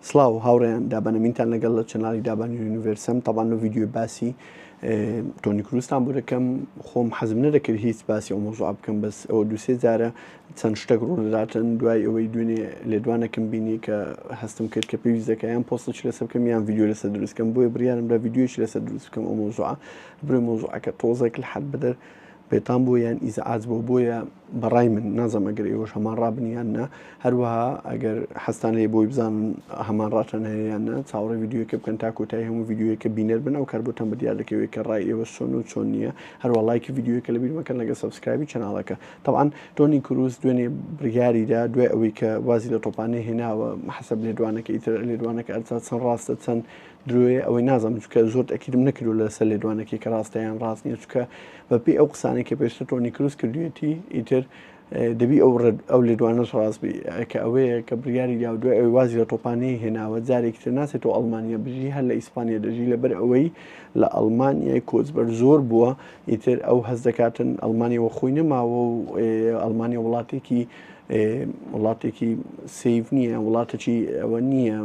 سڵاو هاوڕێیان دابەنەمینتان لەگەڵ لە چەناڵی دابان یونیڤەرسەم تەبان لە ڤیددیوی باسی تۆنی کروستان بۆ دەکەم خۆم حەزم نەدەکرد هیچ باسی ئەو مۆزوع بکەم بەس ئەوە دوسێ جارە چەند شتێک ڕوونەداتن دوای ئەوەی دوێنێ لێدوانەکەم بینی کە هەستم کرد کە پێویست دەکەیان پۆستش لەسەر بکەم یان ڤیددیو لەسەر دروستکەم بۆیە بریارم لە ڤیددیوش لەسەر دروست بکەم ئەو مۆزوع بروی مۆزوعەکە تۆزێک لە حد بدەر بێتام بووە یان ئیزعاج بووە بۆیە بە ڕای من نازەم ئەگەر ئێوەش هەمان ڕابن یان نا هەروەها ئەگەر حەستان لێ بۆی بزانن هەمان ڕاتان هەیە یان نا چاوەڕێ یددیوەکە بکەن تا کۆتایی هەموو یددیوەکە بینەر بن ئەو کار بۆتان بە دیار دەکەوێت کە ڕای ئێوە چۆن و چۆن نییە هەروە لایکی یددیوەکە لە بیرمەکەن لەگە سبسکرایبی چناڵەکە طبعاان تۆنی کروس دوێنێ بڕیاریدا دوای ئەوەی کە وازی لە تۆپانێ هێناوە حەسب لێدوانەکە ئیتر لێدوانەکە ئەرچا چەند ڕاستە چەند درۆیە ئەوەی نازانم چونکە زۆرت ئەکیدم نەکردوە لەسەر لێدوانەکەی کە ڕاستە یان ڕاست نیە چونکە بە پێی ئەو قسانەی کە پێشتر تۆنی کروس کردوێتی ئیتر دەبی ئەو ڕێد ئەو لێدوانەش ڕاست بی کە ئەوەیە کە بریاری یا دوای ئەوی وازی لە تۆپانەی هێناوە جارێکی تر ناچێتەوە ئەڵمانیا بژی هەر لە ئیسپانیا دەژی لەبەر ئەوەی لە ئەڵمانیای کۆچبەر زۆر بووە ئیتر ئەو هەز دەکاتن ئەڵمانیەوە خۆی نەماوە و ئەڵمانیا وڵاتێکی وڵاتێکی سیڤ نییە وڵاتەکی ئەوە نییە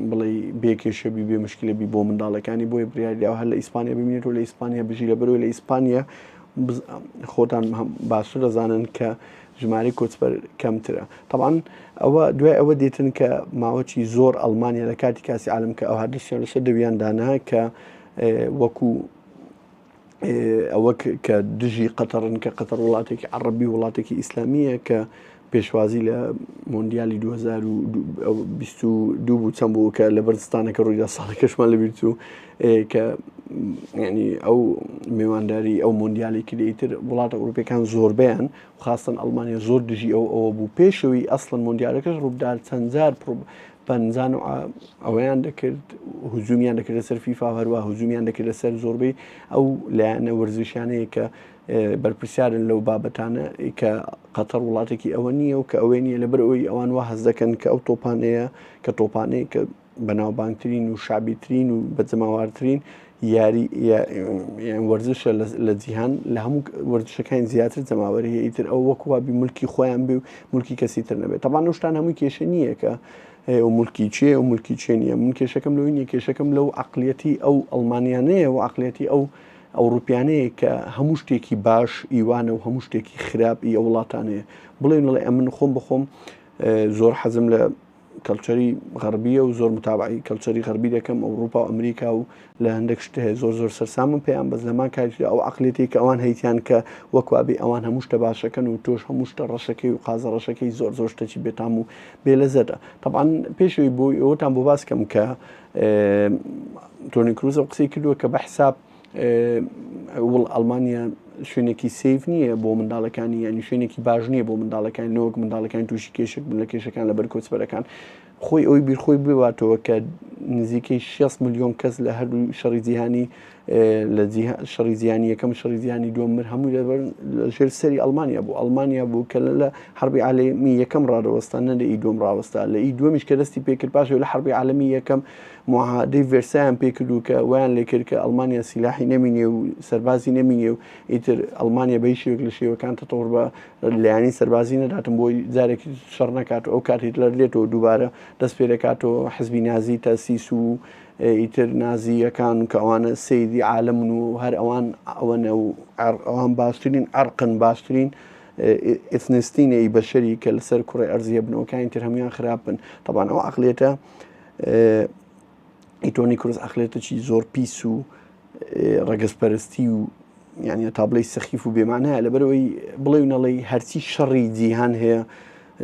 بڵێ بێکێشەبی بێ مشکلەبی بۆ منداڵەکانی بۆی بریاریدا هەر لە ئیسپانیا ببینێت و لە ئیسپانیا بژی لە بەرەوە لە ئیسپانیا خۆتان باشتر دەزانن کە ژماری کۆچبەر کەمترە طبعاان ئەوە دوای ئەوە دێتن کە ماوەی زۆر ئەلمانیا لە کاتی کاسی عالم کە ئەوها دەستیان لەسەر دەویان دانا کە وەکو ئەوە کە دژی قەتەڕن کە قەتەر وڵاتێکی عربی وڵاتێکی ئیسلامیە کە پێشوازی لە مۆندیالی 2022 بوو چەند بوو کە لە بەرزستانەکە ڕوویدا ساڵی کەشمان لە بیرچوو کە ینی ئەو میوانداری ئەو مۆندیالی کلیتر وڵاتە ئەوروپەکان زۆربیان خاستن ئەلمانیا زۆر دژی ئەو ئەوە بوو پێشەوەی ئەسڵەن مۆندیالەکەش ڕوودار چەندجار پەنجا نوع ئەوەیان دەکرد هجومیان دەکردە سەر فیفا هەروە هجومیان دەکردە سەر زۆربەی ئەو لایەنە وەرزشیانەیە کە بەرپرسیارن لەو بابەتانە کە قەتەر وڵاتێکی ئەوە نییە و کە ئەوەی نیە لە بەر ئەوی ئەوان وا هەز دەکەن کە ئەو تۆپانەیە کە تۆپانەیە کە بەناوبانگترین و شابیترین و بەجەماوارترین یاری یان وەرزشە لە جیهان لە هەموو وەرزشەکانی زیاتر جەماوەری ئیتر ئەو وەک وابی ملکی خۆیان بێ و ملکی کەسی تر نەبێت تەبان شتان هەمووی کێشە نییە کە ئەو ملکی چێ و ملکی چێ نیە من کێشەکەم لەوی نیە کێشەکەم لەو عقلەتی ئەو ئەلمانیانەیە و عقلەتی ئەو ئەوروپیانەیە کە هەموو شتێکی باش ئیوانە و هەموو شتێکی خراپ ئی وڵاتانەیە بڵێن لەڵێ ئەمن خۆم بخۆم زۆر حەزم لە کەلچەری غەربیە و زۆر متابعی کەلچەری غەربی دەکەم ئەوروپا و ئەمریکا و لە هەندێک شتە هەیە زۆر زۆر سەرسامم پێیان بەس لەمان کاریدا ئەو عقلێتی کە ئەوان هەیتیان کە وەکوابی ئەوان هەموو شتە باشەکەن و تۆش هەموو شتە ڕەشەکەی و قازە ڕەشەکەی زۆر زۆر شتەکی بێتام و بێلەزەتە تەبان پێشوی بۆی ئەوتان بۆ باسکەم کە تۆنی کروزە قسەی کردووە کە بە حساب وڵ ئەڵمانیا شوێنێکی سیف نییە بۆ منداڵەکانی یانی شوێنێکی باش نییە بۆ منداڵەکان نەوەک منداڵەکان تووشی کێشک بن لە کێشەکان لە بەر کۆچبەرەکان خۆی ئەوی بیرخۆی بباتەوە کە نزیکەی 6 میلیۆن کەس لە هەردوو شەڕی جیهانی لە شەڕی زیانی یەکەم شەڕی زیانی دووەم مر هەموو لەبەر ژێر سەری ئەلمانیا بوو ئەلمانیا بوو کە لە حربی عالمی یەکەم ڕادەوەستان نە لە ئی دوم ڕاوەستا لە ئی دومیش کە دەستی پێکرد پاشەوە لە حربی عالمی یەکەم موعاهەدەی ڤێرسایان پێ کردو کە وایان لێ کرد کە ئەڵمانیا سیلاحی نەمینێ و سەربازی نەمینێ و ئیتر ئەڵمانیا بە هیچ شێوەیەک لە شێوەکان تەتەوڕ بە لایەنی سەربازی نەداتن بۆی جارێک شەڕ نەکات و ئەو کات هیتلەر دێتەوە دووبارە دەست پێ دەکاتەوە حزبی نازی تاسیس و ئیتر نازییەکان کە ئەوانە سەیری عالمن و هەر ئەوان ئەوەنە و ئەوان باشترین ئەرقن باشترین ئیثنستینەی بەشەری کە لەسەر کوڕی ئەرزیە بنەوەکانی تر هەمویان خراپن تەبان ئەو عقلێتە ئیتۆنی کرۆس ئەخلێتەکی زۆر پیس و ڕگەزپەرستی و یانە تابلەی سەخیف و بێمانەیە لەبەرەوەی بڵێ و نەڵی هەرچی شەڕی جیهان هەیە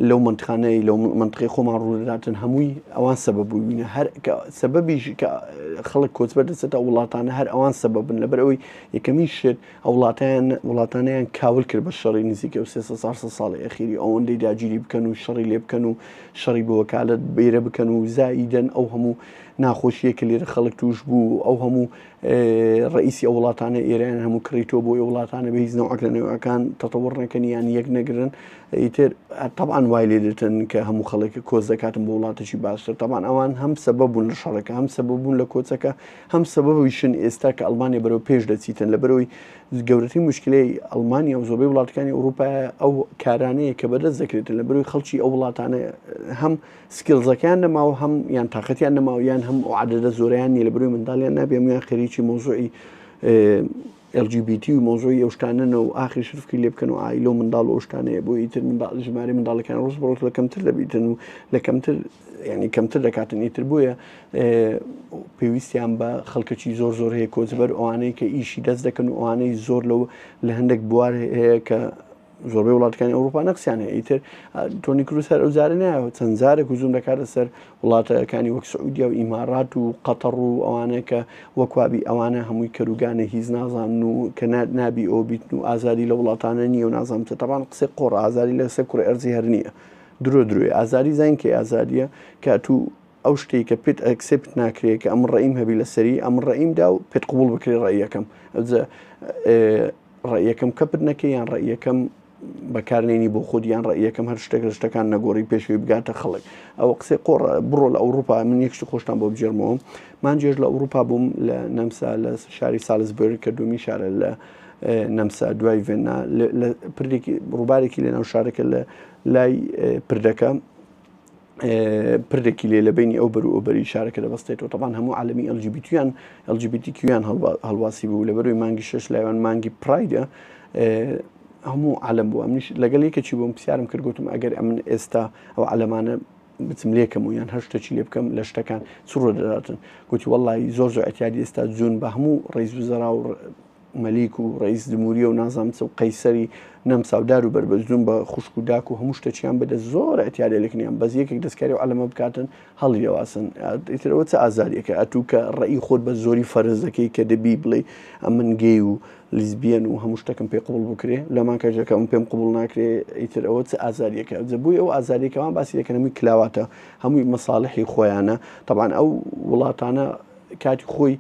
لەو منتخانەی لەو منتقی خۆمان ڕووداتن هەمووی ئەوان سەبە بووینە هەر سەبەبیش کە خەڵک کۆچبەر دەچێتە وڵاتانە هەر ئەوان سەبەبن لەبەر ئەوەی یەکەمین شت ئەو وڵاتەیان، وڵاتانەیان کاول کرد بە شەڕی نزیکەی و سێ سەد چوار سەد ساڵی ئەخیری، ئەوەندەی داگیری بکەن و شەڕی لێ بکەن و شەڕی بە وەکالەت بەیرە بکەن و زائیدەن ئەو هەموو ناخۆشییەی کە لێرە خەڵک تووش بوو و ئەو هەموو ڕەئیسی ئەو وڵاتانەی ئێرەیان هەموو کڕیتووە بۆ ئەو وڵاتانە بە هیچ نەوعەک لە نەوعەکان تەتەووڕ نەکەن یان یەک نەگرن ئیتر تەبعەن وای لێ دەتن کە هەموو خەڵک کۆچ دەکاتن بۆ وڵاتێکی باشتر تەبعەن ئەوان هەم سەبەب بوون لە شەڕەکە هەم سەبەب بوون لە کۆچەکە هەم سەبەبیشن ئێستا کە ئەڵمانیا بەرەو پێش دەچیتن لە بەرەوەی گەورەترین مشکلەی ئەڵمانیا و زۆربەی وڵاتەکانی ئەوروپا ئەو کارانەیە کە بەدەست دەکرێتن لە بەروی خەڵکی ئەو وڵاتانە هەم سکیلزەکان نەماوە هەم یان تااقەتیان نەماوە یان هەم عادەدە زۆریان نیە لە بروی منداڵیان نابێمیان خەریکی مۆزوعی ئێل جی بی تی و مەوزوعی ئەو شتانە نە و ئاخر شرفکەی لێ بکەن و عائیلە و منداڵ و ئەو شتانەیە بۆ ئیتر منداڵ ژمارەی منداڵەکان ڕۆژ بە ڕۆژ لە کەمتر دەبیتن و لە کەمتر یعنی کەمتر دەکاتن ئیتر بۆیە پێویستیان بە خەڵکەکی زۆر زۆر هەیە کۆچبەر ئەوانەی کە ئیشی دەست دەکەن و ئەوانەی زۆر لەو لە هەندێک بوار هەیە کە زۆربەی وڵاتەکانی ئەوروپا نەقسیان هەیە ئیتر تۆنی کروس هەر ئەوزارە نایەوە چەند زارێک وزوم دەکاتە سەر وڵاتەکانی وەک سعودیا و ئیمارات و قەتەڕ و ئەوانەیە کە وەکوابی ئەوانە هەمووی کەروگانە هیچ نازان و کە نابی ئەو بیت و ئازادی لە وڵاتانە نییە و نازانم چە تەبان قسەی قۆڕ ئازاری لەسەر کوڕی ئەرزی هەر نییە درۆ درۆی ئازاری زانکەی ئازادیە کە تو ئەو شتەی کە پێت ئەکسێپت ناکرێ کە ئەمن ڕەئیم هەبی لەسەری ئەمن ڕەئیم دا و پێت قوبوڵ بکرێ ڕەئیەکەم ئەوجە ڕەئیەکەم کەپت نەکەی یان ڕەئیەکەم بەکارنێنی بۆ خۆت یان ڕەئیەکەم هەر شتێک لە شتەکان نەگۆڕی پێشوی بگاتە خەڵک ئەو قسەی قۆڕ بڕۆ لە ئەوروپا من یەکشتی خۆشتان بۆ بجێرمەوە مانجێش لە ئەوروپا بووم لە نەمسا لە شاری سالزبرگ کە دومی شارە لە نەمسا دوای ڤێنا پردێکی ڕووبارێکی لە ناو شارەکە لە لای پردەکە پردێکی لێ لە بینی ئەو بەر و ئەوبەری شارەکە دەبەستێتەوە تەبان هەموو عالمی ئەلجیبیتیان ئەلجیبیتیکیان هەڵواسی بوو لە بەروی مانگی شش لایوان مانگی پرایدە هەموو عالم بوو منیش لەگەڵ یەکێکی بۆم پرسیارم کرد گوتم ئەگەر ئەمن ئێستا ئەو عەلەمانە بچم لێکەم و یان هەر شتێکی لێ بکەم لە شتەکان چڕۆ دەداتن گوتی وەڵی زۆر زۆر ئەتیادی ئێستا جون بە هەموو ڕیز و زەرا و مەلیک و ڕەیس جموریە و نازام چ و قەیسەری نەم ساودار و بەربەزدون بە خوشک و داک و هەموو شتەچیان بدە زۆر ئەتیارێ لەکنیان بەس یەکێک دەستکاری و عەلەمە بکاتن هەڵی لێواسن ئیترەوە چ ئازاریەکە ئەتوو کە ڕێی خۆت بە زۆری فەرز دەکەی کە دەبی بڵێ ئەمن گەی و لیزبیەن و هەموو شتەکەم پێ قوڵ بکرێ لەمان کەژەکەم پێم قوبول ناکرێ ئیتر ئەوە چ ئازاریەکە جەبووی ئەو ئازاریەکەمان باسی دەکەن هەمووی کلاواتە هەمووی مەساالحی خۆیانە تەبان ئەو وڵاتانە کاتی خۆی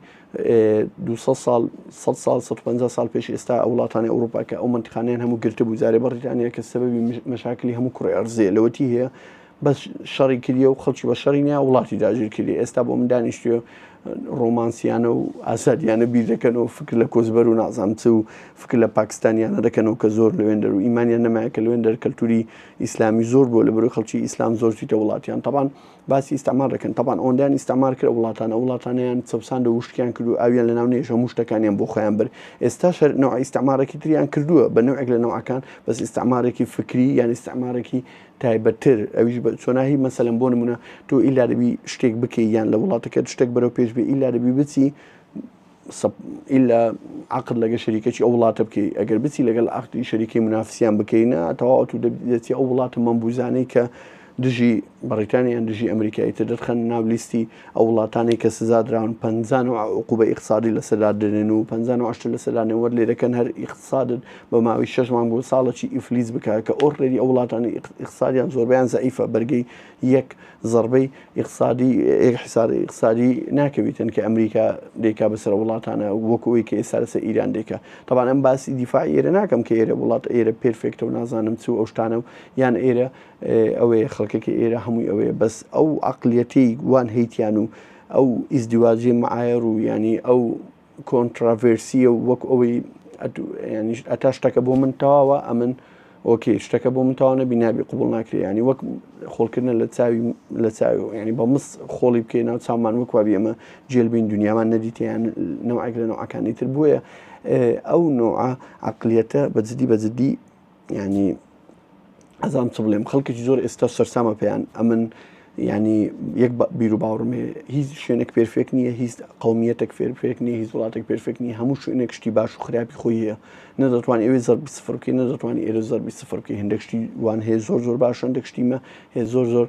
دوو سەد ساڵ، سەد ساڵ، سەد و پەنجا ساڵ پێش ئێستا ئەو وڵاتانی ئەوروپا کە ئەو مەنتقانەیان هەموو گرتبوو جارێ بەڕیتانیا کە سەبەبی مەشاکلی هەموو کوڕێ ئەرزێ لەوەتی هەیە بەس شەڕی کردیە و خەڵکی بە شەڕی نیا وڵاتی داگیر کردی ئێستا بۆ من دانیشتوێ ڕۆمانسیانە و ئازادیانە بیر دەکەن و فکر لە کۆزبەر و نازام چ و فکر لە پاکستانیانە دەکەن و کە زۆر لەوێن دەر و ئیمانیان نەمایە کە لەوێن دەر کەلتوری ئیسلامی زۆر بووە لە بەرو خەڵکی ئیسلام زۆر چیتە وڵاتیان تەبان باسی ئیستعمار دەکەن تەبان ئەوەندەیان ئیستعمار کرد ئەو وڵاتانە ئەو وڵاتانەیان چەوساند و وشکیان کرد و ئاویان لەناو نێژ هەموو شتەکانیان بۆ خۆیان برد ئێستاش هەر نەوعی ئیستعمارێکی تریان کردووە بە نەوعێک لە نەوعەکان بەس ئیستعمارێکی فکری یان ئیستعمارێکی تایبەتتر ئەویش بە چۆناهی مەسەلەن بۆ نمونە تۆ ئیلا دەبی شتێک بکەی یان لە وڵاتەکەت شتێک بەرەو پێش بێ ئیلا دەبی بچی سب ئیلا عقد لەگە شەریکەی ئەو وڵاتە بکەی ئەگەر بچی لەگەڵ عقدی شەریکەی منافسیان بکەینە تەواو تو دەچی ئەو وڵاتە مەمبوزانەی کە دژی بەڕیتانیان دژی ئەمریکایی تر دەرخەن ناو لیستی ئەو وڵاتانی کە سزا دراون پ و عقوبە اقتصادی لە سەدا دێنن و پ وشت لە سەدانێ وەر لێ دەکەن هەر اقتصادت بە ماوەی شەش مانگ بۆ ساڵەکی ئیفلیس بکە کە ئۆرێری ئەو وڵاتانی اقتصادیان زۆربیان زعیفە بەرگەی یەک زەڕبەی ئیقسادی یەک حیسار ئیقسادی ناکەویتن کە ئەمریکا دەیکا بەسەر وڵاتانە وەک ئەوەی کە ئێستا لەسەر ئیران دەیکا تەبان ئەم باسی دیفاعی ئێرە ناکەم کە ئێرە وڵات ئێرە پێرفێکتە و نازانم چ و ئەو شتانە و یان ئێرە ئەوەیە خەڵکەکە ئێرە هەمووی ئەوەیە بەس ئەو عەقلیەتەی وان هەیتیان و ئەو ئیزدیواجی معایەڕ و یانی ئەو کۆنتراڤێرسیە و وەک ئەوەی ئەتا شتەکە بۆ من تەواوە ئەمن ئۆکێ شتەکە بۆ من تاوانە بینابی قوبڵ ناکرێ ینی وەک خۆڵکردە لە چاوی لە چاوی ینی بە مس خۆڵی بکەی ناو چامان وەکوا بێمە جێلبین دنیامان نەدیتیان نەوەک لە نەوەکانی تر بووە ئەو نوعە عقلیەتە بەجددی بەجددی یانی ئەزانم چ بڵێم خەڵکێکی زۆر ئێستا سەرسامە پێیان ئەمن ینی یەک بیرو باوڕمێ هیچ شوێنێک پێرفێک نییە هیچ قومیەتێک فێرفێک نیە هیچ وڵاتێک پێرفێک نیە هەموو شوێنێک شتی باش و خراپی خۆی هەیە نە دەتوان ئەوێ زەربی سفرکی نە دەتوان ئێرە زەربی سفرکی هەندێک شتی وان هەیە زۆر زۆر باش هەندێک شتیمە هەیە زۆر زۆر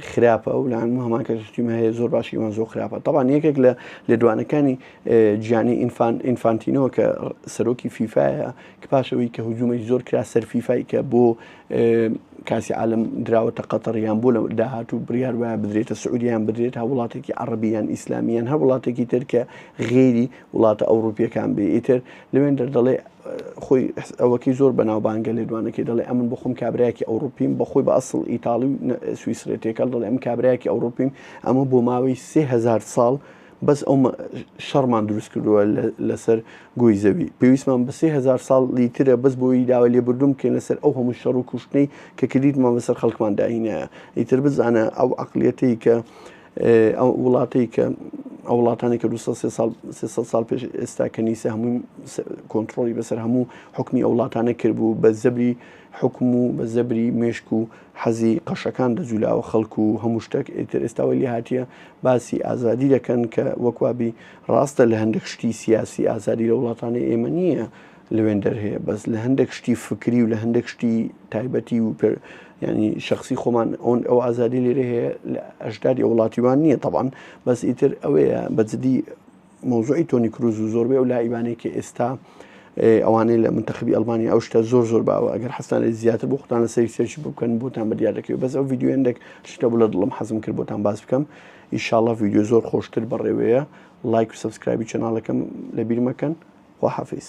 خراپە و لەان هەمان کە شتیمە هەیە زۆر باشی وان زۆر خراپە تاوان یەکێک لە لێدوانەکانی جیانی ئینفان ئینفانتینەوە کە سەرۆکی فیفاە کە پاش ئەوەی کە هجومێکی زۆر کرا سەر فیفای کە بۆ کاسی عالم دراوەتە قەتەر یان بۆ لە داهاتوو بڕیار وایە بدرێتە سعودیان بدرێت هە وڵاتێکی عربیان ئیسلامیان هەر وڵاتێکی تر کە غێری وڵاتە ئەوروپیەکان بێ ئیتر لەوێن دەردەڵێ خۆی ئەوەکەی زۆر بەناوبانگە لێدوانەکەی دەڵێ ئەمن بخۆم کابراایکی ئەوروپیم بەخۆی بە ئەسڵ ئیتاڵی سویسرێتێکەڵ دەڵێ ئەم کابراایکی ئەوروپیم ئەمە بۆ ماوەی سهزار ساڵ بەس ئەو شەڕمان دروست کردووە لەسەر گۆی زەوی پێویستمان بە سێ هزار ساڵی ترە بەس بۆی داوای لێبوردوم بکەین لەسەر ئەو هەموو شەڕ و کوشتنەی کە کردیتمان بەسەر خەڵکمان داهینایە ئیتر بزانە ئەو عقلیەتەی کە ئەو وڵاتەی کە ئەو وڵاتانی کە 300 سال پێش ئێستا کە نیسە هەمووی کۆنتترۆلی بەسەر هەموو حکمی ئەو وڵاتانە کرد بوو بە زەبری حکم و بە زەبری مێشک و حەزی قەشەکان دەجولاوە خەڵک و هەموو شتەک ئیتر ئێستا وای لێهاتیە باسی ئازادی دەکەن کە وەک وابی ڕاستە لە هەندێک شتی سیاسی ئازادی لە وڵاتانی ئێمە نییە لەوێندەر هەیە بەس لە هەندێک شتی فکری و لە هەندێک شتی تایبەتی و پێ ینی شخصی خۆمان ئەون ئەو ئازادی لێرە هەیە لە ئەشداری وڵاتیوان نییە تەبان بەس ئیتر ئەوەیە بەجددی مەوزوعی تۆنی کروز و زۆربەی ئەو لایبانەی کە ئێستا ئەوانەی لە منتەخبی ئەلمانی ئەو شتە زۆر زۆر باوە ئەگەر حستان لە زیاتر بۆ خۆتان لە سەری سێرچی بکەن بۆتان بە دیار دەکەوێت بەس ئەو یددیوێندێک شتە بوو لە دڵم حەزم کرد بۆتان باز بکەم ئیشاڵە یددیو زۆر خۆشتر بەڕێوەیە لایک و سبسکرایبی چناڵەکەم لە بیرمەکەن خواحافیز